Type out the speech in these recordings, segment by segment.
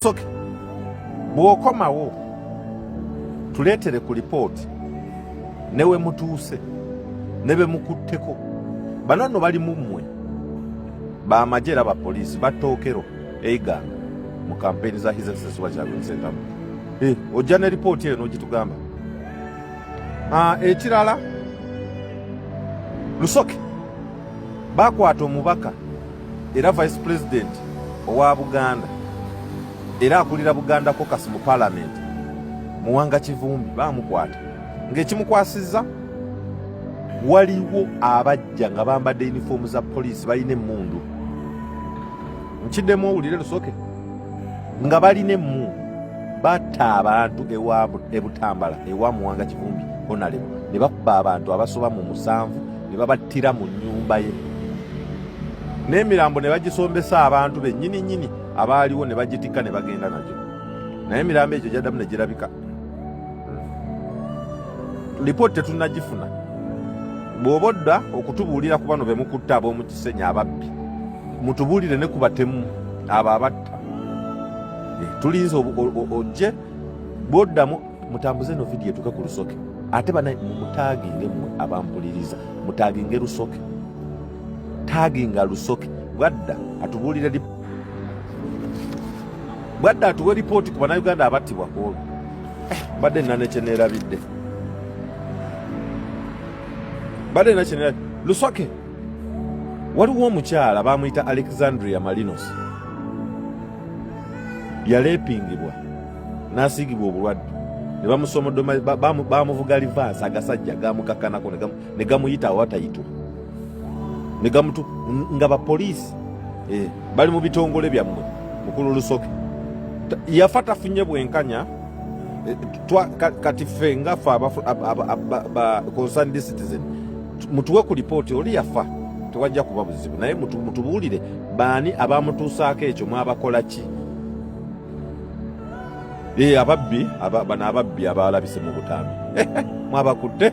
soke bw'okomawo tuleetere ku lipooti ne we mutuuse ne be mukutteko bano nno bali mu mmwe bamagye era bapoliisi battookero eiganga mu kampeyini za his excellency wakyabensentamu eh, ojja ne lipooti eyo n'ogitugamba ah, ekirala lusoke bakwata omubaka era vice president owa buganda era akulira buganda kokas mu parliament muwanga kivumbi bamukwata ngaekimukwasiza waliwo abajja nga bambadde uniform za poliisi balina emundu nkiddemu owulire lusoke nga balina emundu batta abantu ebutambala ewa muwanga kivumbi honalebo ne bakuba abantu abasoba mu musanvu ne babattira mu nyumba ye n'emirambo ne bagisombesa abantu bennyini nnyini abaaliwo ne bagitikka ne bagenda nagyo naye emirambo egyo gyaddamu ne girabika lipooti tetunnagifuna bw'oba odda okutubuulira ku bano be mukutte ab'omu kisenyi ababbi mutubuulire ne ku batemu abo abatta eh, tulinze ojje bw'oddamu mutambuze no vidiyo etuke ku lusoke ate banaye mumutaginge mmwe abampuliriza mutaginge lusoke taginga lusoke bwadda atubuulire bwadda atuwe lipooti ku banauganda abattibwa ku olwo eh, badde nina nekyeneerabidde badde nina kyeneerabidde lusoke waliwo omukyala bamuyita alexandria malinos yaleepingibwa n'asiigibwa obulwadde ne bamusomodoma bamuvuga livaasi agasajja gamukakanako ne gamuyita awatayitwa ne gamutu nga bapoliisi eh, bali mu bitongole byammwe mukulu lusoke yafa tafunye bwenkanya eh, twa, kati ffe nga fe concerned citizen mutuwe ku lipooti oli yafa tewajja kuba buzibu naye mutubuulire baani abamutuusaako ekyo mwabakola ki eh, ababbi bano ababbi abaalabise mu butambi mwabakutte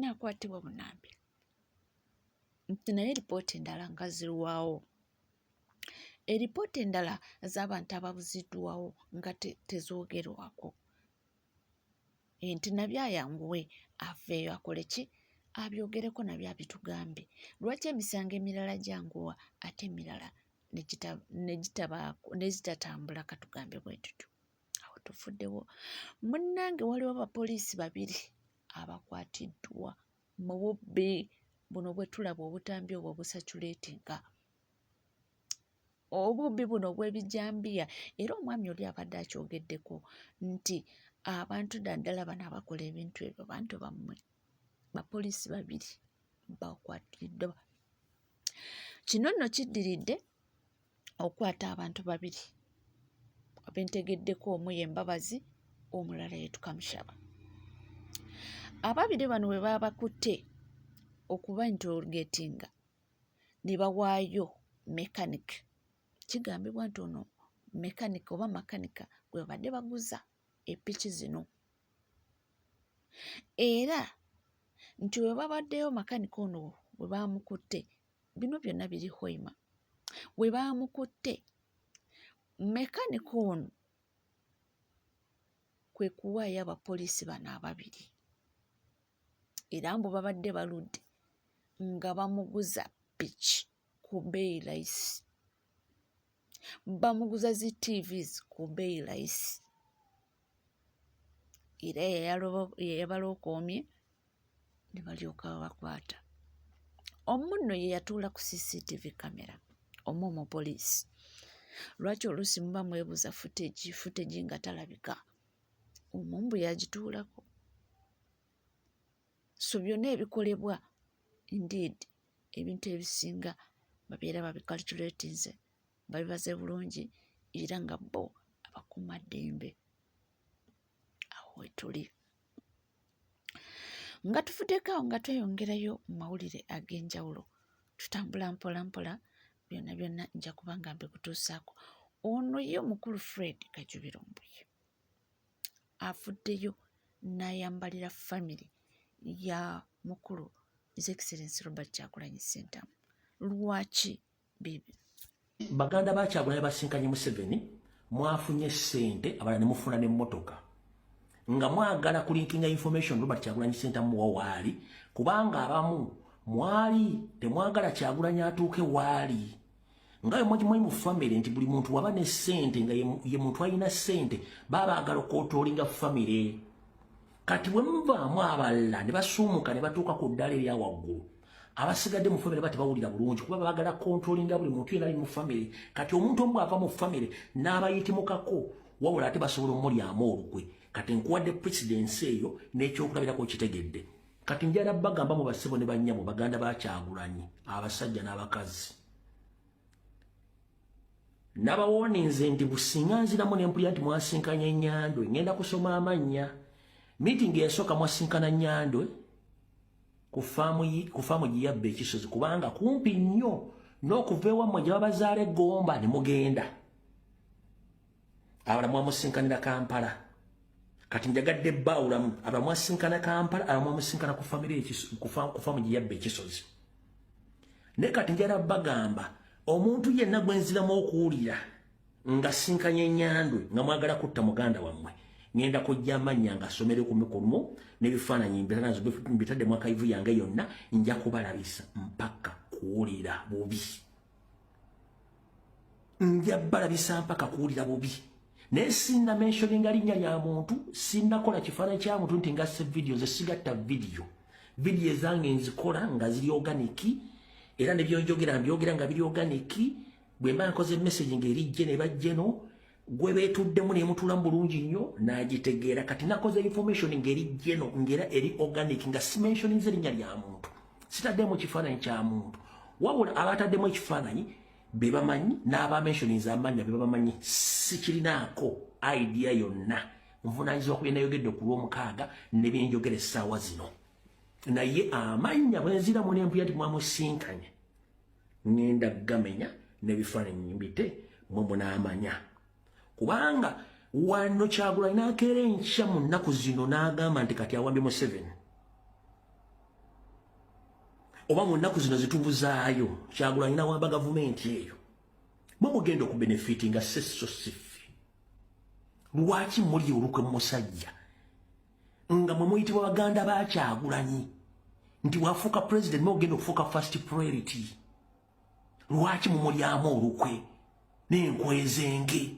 naakwatibwa bunambi nti naye lipooti endala nga zirwawo eripooti endala z'abantu ababuziddwawo nga tezoogerwako nti nabyo ayanguwe aveeyo akole ki abyogereko nabyo abitugambye lwaki emisango emirala gyanguwa ate emirala negitatambula katugambe bwe tutyo awo tufuddewo munnange waliwo abapoliisi babiri abakwatiddwa mu bubbi buno bwe tulaba obutambi obwo obusaculatinga obubbi buno obw'ebijambiya era omwami oli abadde akyogeddeko nti abantu daddala bano abakola ebintu ebyo bantu bammwe bapoliisi babiri bakwatiddwa kino nno kiddiridde okukwata abantu babiri be ntegeddeko omu ye Mbabazi omulala ye Tukamushaba. Ababiri bano bwe baabakutte okubainterrogatinga ne bawaayo mechanic kigambibwa nti ono mechanic oba makanika gwe babadde baguza epiki zino era nti bwe babaddeyo makanika ono bwe baamukutte bino byonna biri hoima we baamukutte mekanika ono kwe kuwaayo abapoliisi bano ababiri era mbu babadde baludde nga bamuguza piki ku beeyi layisi bamuguza zi tvs ku beeyi layisi era yeyabalokoomye ne balyoka babakwata omu nno ye yatuula ku cctv camera omu omupoliisi lwaki oluusi muba mwebuuza futegi futegi nga talabika omumbu yagituulako so byonna ebikolebwa indeed ebintu ebisinga babeera babikalculatinze bali baze bulungi era nga bo abakuuma ddembe awo wetuli nga tuvuddeko awo nga tweyongerayo mu mawulire ag'enjawulo tutambula mpola mpola byonna byonna nja kuba nga mbikutuusaako ono ye omukulu fred kajubiro mbuye avuddeyo n'ayambalira famire ya mukulu his excellence robert kyakulanyi sentamu lwaki bibi baganda ba kyagulanya basinkanye museveni mwafunye sente abala nemufuna ne motoka nga mwagala kulinkinga information robert kyagulanyi sente muwa waali kubanga abamu mwali temwagala kyagulanya atuuke waali nga yemwagimwayi mu family nti buli muntu waba ne sente nga ye muntu alina sente baba agala okotoolinga family kati bwe muvaamu abalala ne basuumuka ne batuuka ku ddala erya waggulu abasigadde mu famire batebawulira bulungi kuba bagala kontrolinga buli muntu yenali mu famire kati omuntu omu ava mu famire n'abayitimukako wabula ate basobola omulyamu olukwe kati nkuwadde presidensi eyo n'ekyokulabirako kitegedde kati njala bagamba mu basebo ne bannyabo baganda bakyagulanyi abasajja n'abakazi nabawoninze nti businga nziramu nempulira nti mwasinkanye nyandwe ngenda kusoma amannya mitingi yasooka mwasinkana nyandwe ku faamu giyabba ekisozi kubanga kumpi nnyo n'okuva ewammwe gye babazaala egomba ne mugenda abala mwamusinkanira kampala kati njagadde baawulamu abala mwasinkana kampala abala mwamusinkana ku famire kufamu gye yabba ekisozi naye kati njala bagamba omuntu yenna gwe nziramu okuwulira nga sinkanya enyandwe nga mwagala kutta muganda wammwe ngenda kujja amannya nga asomere ku mikumu n'ebifaananyi mbiranazo mbitadde mwakaivu yange yonna nja kubalabisa mpaka kuwulira bubi nja balabisa mpaka kuwulira bubi naye sinna mentioninga linnya lya muntu sinnakola kifaananyi kya muntu nti ngasse vidiyo nze sigatta vidiyo vidiyo ezange nzikola nga ziri oganiki era ne byonjogera mbyogera nga biri oganiki bwe mba nkoze message nga erijje ne bajjeno gwe beetuddemu nemutuulamu bulungi nnyo n'agitegeera kati nakoze information ngeri geno ngera eri organic nga simensioninze erinnya lya muntu sitaddemu kifaananyi kya muntu wabula abataddemu ekifaananyi be bamanyi n'abamensioninze amannya be bamanyi sikirinaako idea yonna nvunaanyizibwa ku byenayogedde ku lw'omukaaga ne byenjogera essaawa zino naye amannya bwenziramu n'empuya nti mwamusinkanye ngenda gamenya nebifananyi mbite mwe munamanya kubanga wano kyagula nakera enkya mu nnaku zino n'agamba nti kati awambye museveni oba mu nnaku zino zitubuzaayo kyagula nyina wamba gavumenti eyo mwe mugenda okubenefiti nga seso siffe lwaki muli olukwe musajja nga mwe muyitibwa baganda ba kyagulanyi nti wafuuka president nogenda okufuuka first priority lwaki mumulyamu olukwe nenkwezenge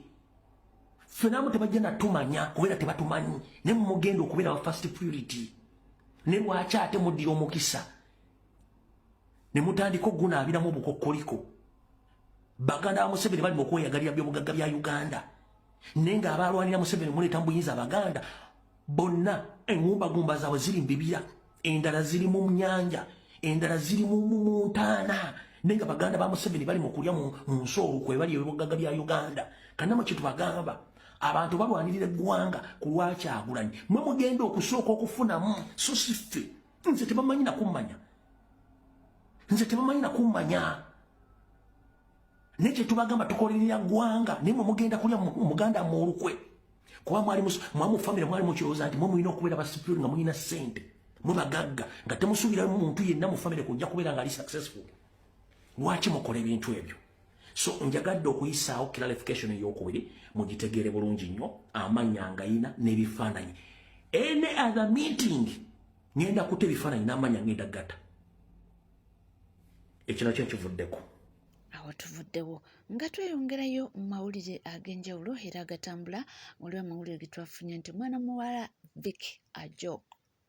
fenamu tebajja natumanya kubeera tebatumanyi naye mumugenda okubeera wa first priority ne lwaki ate muddira omukisa ne mutandika okugunaabiramu obukokkoliko baganda ba museveni bali mu kweyagalira byobugagga bya uganda naye nga abaalwanira museveni muleeta mu buyinza abaganda bonna engumbagumba zaabwe ziri mu bibira endala ziri mu nyanja endala ziri mu ntaana naye nga baganda ba museveni bali mu kulya mu nsi olwo kwebali ebyobugagga bya uganda kanama kyetubagamba abantu balwanirira eggwanga ku lwakyagulanyi mwe mugenda okusooka okufunamu so si ffe nze tebamanyi nakummanya nze tebamanyi nakummanya naye kyetubagamba tukolerera ggwanga naye mwe mugenda kulya muganda mu olukwe kuba mwali mwamu famire mwali mukirowooza nti mwe mulina okubeera basipironi nga mulina ssente mwe bagagga nga temusuubiramu muntu yenna mu famire kujja kubeera nga ali successful lwaki mukola ebintu ebyo so njagadde okuyisaawo clarification eyokubiri mugitegeere bulungi nnyo amanya ngayina n'ebifaananyi any other meeting ngenda kuta ebifaananyi n'amanya ngenda gata ekirala kyo kivuddeko awo tuvuddewo nga tweyongerayo mu mawulire ag'enjawulo era agatambula waliwo amawulire getwafunye nti omwana muwala vic ajok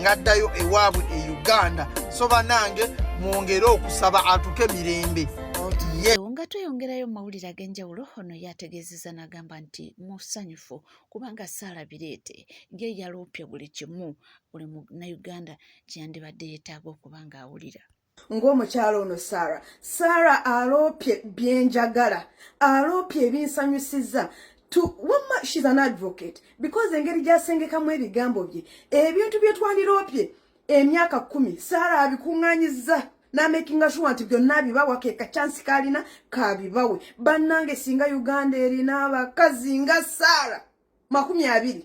ngaddayo ewaabwe e uganda so banange mwongere okusaba atuke mirembe nga tweyongerayo mu mawulire ag'enjawulo ono yategeezeza n'agamba nti musanyufu kubanga saala bireete ye yaloopye buli kimu buli munnauganda kyeyandibadde yeetaaga okuba ng'awulira ng'omukyala ono sara sara aloopye byenjagala aloopye ebinsanyusiza wamma shes an advocate because engeri gyasengekamu ebigambo bye ebintu byetwandiroopye emyaka kumi sara abikuŋŋanyiza namakinga sure nti byonna bibawa ke kachansi kalina kabibawe bannange singa uganda erina abakazi nga sara makumi abiri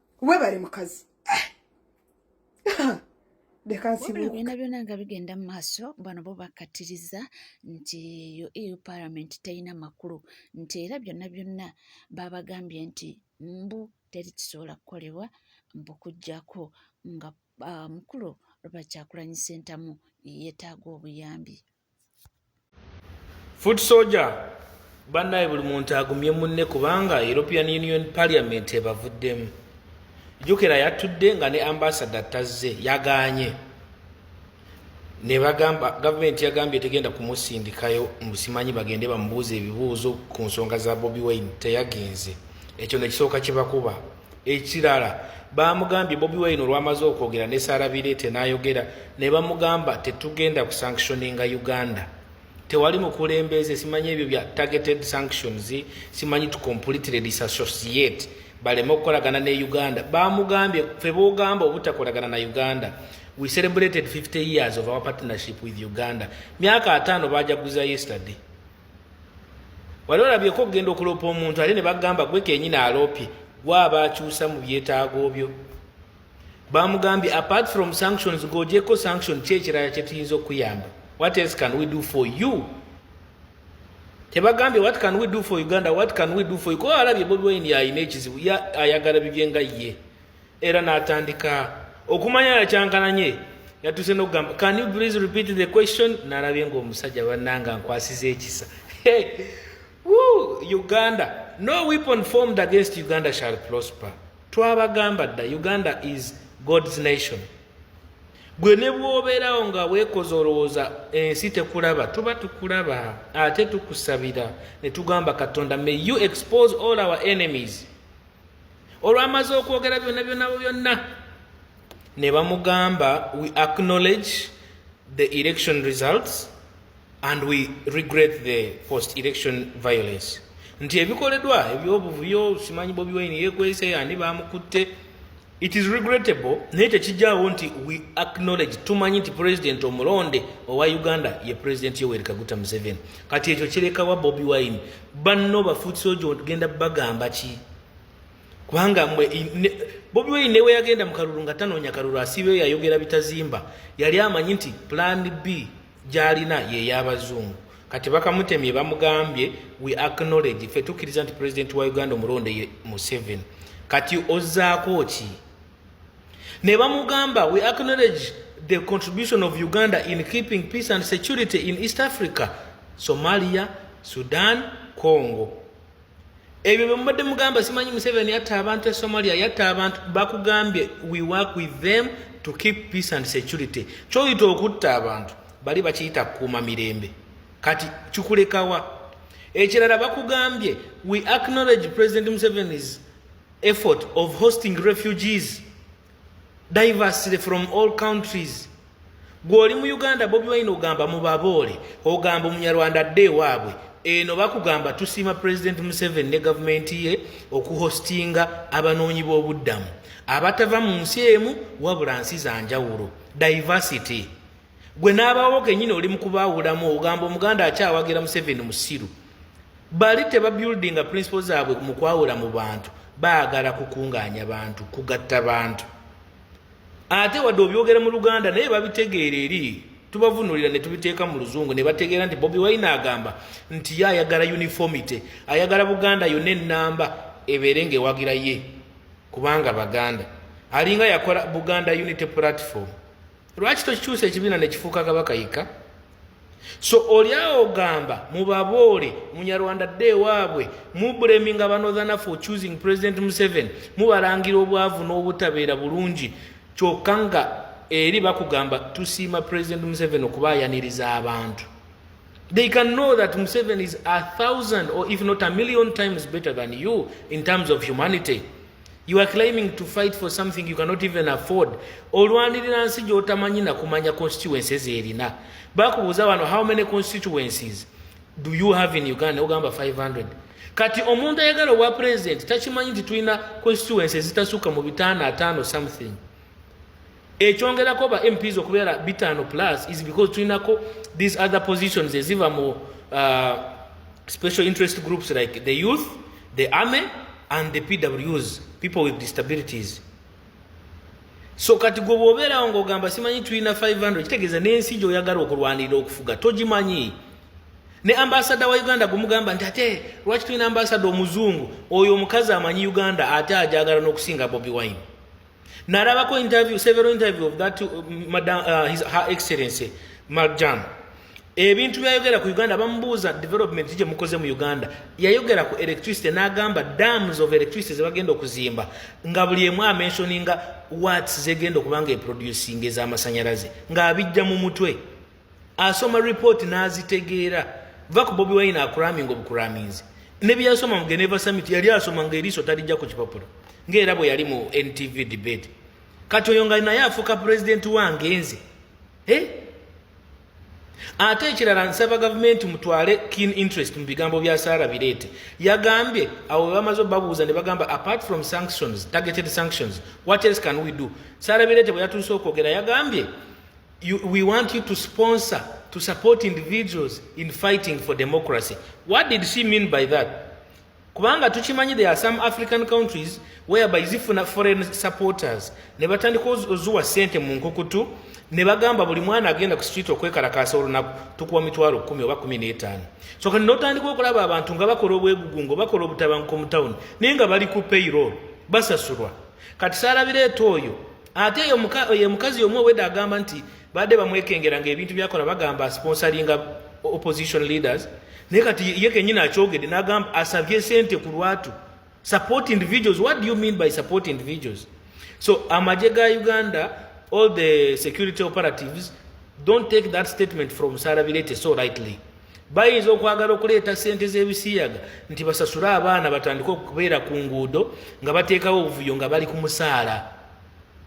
webale mukazi eh! byona byona nga bigenda mu maaso bano bo bakkatiriza nti yo eu parliament terina makulu nti era byonna byonna babagambye nti mbu teri kisobola kukolebwa mbu kujjako nga ah, mukulu lwebakyakulanyisa entamu yetaaga obuyambi foot soldier bannaye buli muntu agumye munne kubanga european union parliament ebavuddemu jukira yatudde nga ne ambasada tazze yaganye nebagamba gavumenti yagambye tegenda kumusindikayo musimanyi bagende bamubuuza ebibuuzo ku nsonga za bobi wine teyagenze ekyo nekisooka kyebakuba ekirala baamugambye bobi wine olwamaze okwogera ne sarabireete n'ayogera ne bamugamba tetugenda ku sanctioninga uganda tewali mukulembeze simanyi ebyo bya targeted sanctions simanyi to completely disassociate baleme okukolagana ne uganda baamugambye fe boogamba obutakolagana na uganda we celebrated 50 years of our partnership with uganda myaka ataano baajaguza yesterday wali olabyeko okugenda okuloopa omuntu ate ne bagamba gwe kenyini aloopye gwaba akyusa mu byetaago byo bamugambye apart from sanctions gojeko sanction ki ekirala kyetuyinza okukuyamba what else can we do for you tebagambye what can we do for uganda what can we do for you kuba alabye bobi wine yalina ekizibu ayagala bibye nga ye era n'atandika okumanya yakyankananye yatuuse nokugamba can you please repeat the question nalabye ngaomusajja bananga nkwasiza ekisa uganda no weapon formed against uganda shall prosper twabagamba dda uganda is god's nation gwe ne bwobeerawo nga weekoza olowooza ensi tekulaba tuba tukulaba ate tukusabira ne tugamba katonda may you expose all our enemies olwamaze okwogera byonna byonna byonna ne bamugamba we acknowledge the election results and we regret the post election violence nti ebikoledwa ebyobuvuyo simanyi bobi wine yekwese ani bamukutte it is regrettable naye tekijjawo nti we acknowledge tumanyi nti president omulonde owa uganda ye president yoweri kaguta museveni kati ekyo kirekawa bobi wine banno bafoot soja ogenda bagamba ki kubanga mwe bobi wine newe yagenda mukalulu nga tanoonya kalulu asibeyo yayogera bitazimba yali amanyi nti plan b gyalina yeyabazungu kati bakamutemye bamugambye we acknowledge fe tukkiriza nti president wa uganda omulonde museven kati ozaako ki ne bamugamba we acknowledge the contribution of uganda in keeping peace and security in east africa somalia sudan congo ebyo bemubadde mugamba simanyi museveni yatta abantu e somalia yatta abantu bakugambye we work with them to keep peace and security kyoyita okutta abantu bali bakiyita kukuuma mirembe kati kikulekawa ekirala bakugambye we acknowledge president museveni's effort of hosting refugees diversely from all countries gwoli mu uganda bobi wine ogamba mubaboole ogamba omunyarwanda adde ewaabwe eno bakugamba tusiima president museven ne gavumenti ye okuhostinga abanoonyi b'obuddamu abatava mu nsi emu wabula nsi za njawulo diversity gwe n'abaawo kenyini oli mukubaawulamu ogamba omuganda akyawagira museveni musiru bali tebabuildinga principle zaabwe mu kwawula mu bantu baagala kukungaanya bantu kugatta bantu ate wadde obyogera mu luganda naye babitegeera eri tubavunulira ne tubiteeka mu luzungu ne bategeera nti bobi wayina agamba nti ye ayagala uniformity ayagala buganda yonna ennamba ebeere ngaewagira ye kubanga baganda alinga yakola buganda unity platform lwaki tokikyusa ekibiina nekifuuka kabaka yekka so olyawo ogamba mubaboole munyarwanda dde ewaabwe mubleminga banodhana for choosing president museven mubalangira obwavu n'obutabeera bulungi kyokka nga eri bakugamba tusiima president museven okuba ayaniriza abantu they can know that museven is a thousand or if not a million times better than you in terms of humanity You are claiming to fight for something you cannot even afford. Olwanirira nsi gy'otamanyi na kumanya constituencies erina. Bakubuuza wano how many constituencies do you have in Uganda? Ogamba 500. Kati omuntu ayagala obwa president takimanyi nti tulina constituencies zitasuka mu bitaano ataano something. ekyongerako ba mps okubeera bitaano plus is because tulinako these other positions eziva mu uh, special interest groups like the youth the army and the pws people with disabilities so kati gwe bwobeerawo ngaogamba simanyi tulina 500 kitegeeza n'ensi gyoyagala okulwanirira okufuga togimanyi ne ambasada wa uganda gumugamba nti ate lwaki tulina ambasada omuzungu oyo omukazi amanyi uganda ate ajagala n'okusinga bobi wine narabako interview several interview of that uh, madam uh, his her excellency marjan ebintu byayogera ku uganda bamubuuza development gye mukoze mu uganda yayogera ku electricity n'agamba dams of electricity zebagenda okuzimba nga buli emu amensioninga wats zegenda okuba nga eproducing ez'amasanyalaze ng'abijja mu mutwe asoma report n'azitegeera va ku bobi wine akuraminga obukuraminzi ne bye yasoma mu geneva summit yali asoma ng'eriiso talijja ku kipapula ng'era bwe yali mu ntv debate kati oyo nga naye afuuka pulezidenti wange nze eh? ate ekirala nsaba gavumenti mutwale keen interest mu bigambo bya saara bireete yagambye awo webamaze obabuuza ne bagamba apart from sanctions targeted sanctions what else can we do saara bireete bwe yatuuse okwogera yagambye you, we want you to sponsor to support individuals in fighting for democracy what did she mean by that kubanga tukimanyi there are some african countries whereby zifuna foreign supporters ne batandika ozuwa sente mu nkukutu ne bagamba buli mwana agenda ku street okwekalakaasa olunaku tukuwa mitwalo kumi oba kumi n'etaano so kati notandika okulaba abantu nga bakola obwegugungo bakola obutabanko mu tawuni naye nga bali ku payroll basasulwa kati saalabireeta oyo ate oyo mukazi omu owedde agamba nti badde bamwekengera nga ebintu byakola bagamba sponsoringa opposition leaders naye kati ye kenyini akyogedde nagamba asabye sente ku lwatu support individuals what do you mean by support individuals so amagye ga uganda all the security operatives don't take that statement from sarabirete so rightly bayinza okwagala okuleeta ssente z'ebisiyaga nti basasule abaana batandike okubeera ku nguudo nga bateekawo obuvuyo nga bali ku musaala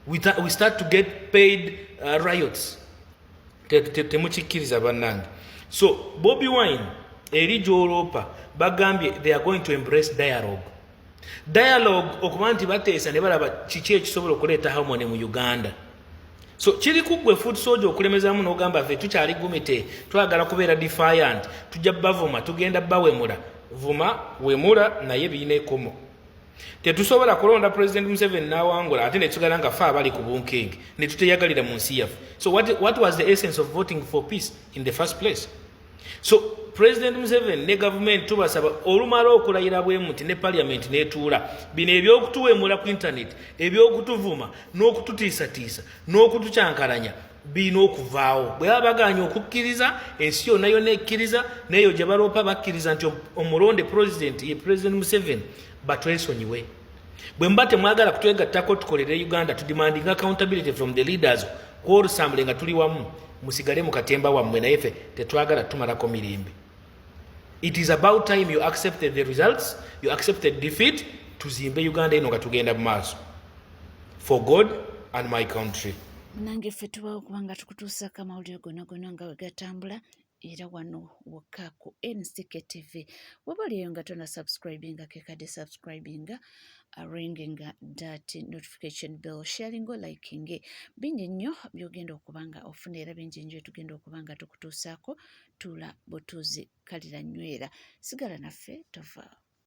we start to get paid uh, riots temukikkiriza bannange so bobi wine eri gyoloopa bagambye they are going to embrace dialogue dialogue okuba nti bateesa ne balaba kiki ekisobola okuleeta harmony mu uganda so kiri kuggwe food soja okulemezamu n'ogamba fe tukyali gumite twagala kubeera defiant tujja bavuma tugenda bawemula vuma wemula naye birina ekomo tetusobola kulonda president museven nawangula ate netugala nga fe abali ku bunkenge netuteyagalira mu nsi yaffe so what, what was the essence of voting for peace in the first place so president museven ne gavumenti tubasaba olumala okulayira bwe muti ne paliamenti netuula bino ebyokutuwemula ku internet ebyokutuvuma n'okututiisatiisa n'okutucankalanya birina okuvaawo bwe baba baganya okukkiriza ensi yonna yonna ekkiriza neeyo gye baloopa bakkiriza nti omulonde president ye president museven batwesonyiwe bwe muba temwagala kutwegattako tukolere uganda tudemanding accountability from the leaders kwolusambule nga tuli wamu musigale mu katemba wammwe naye fe tetwagala tumalako mirembe it is about time you accepted the results you accepted defeat tuzimbe uganda eno nga tugenda mu maaso for god and my country munange ffe tubawo kubanga tukutuusako amawulire gonagona nga wegatambula era wano wokka ku NCK TV waba oliyo nga tona subscribinga kekade subscribinga ringinga dat notification bell sharingo likinge bingi nnyo byogenda okuba nga ofuna era bingi nnyo tugenda okuba nga tukutuusaako tuula butuuzi kalira nywera sigala naffe tovaawo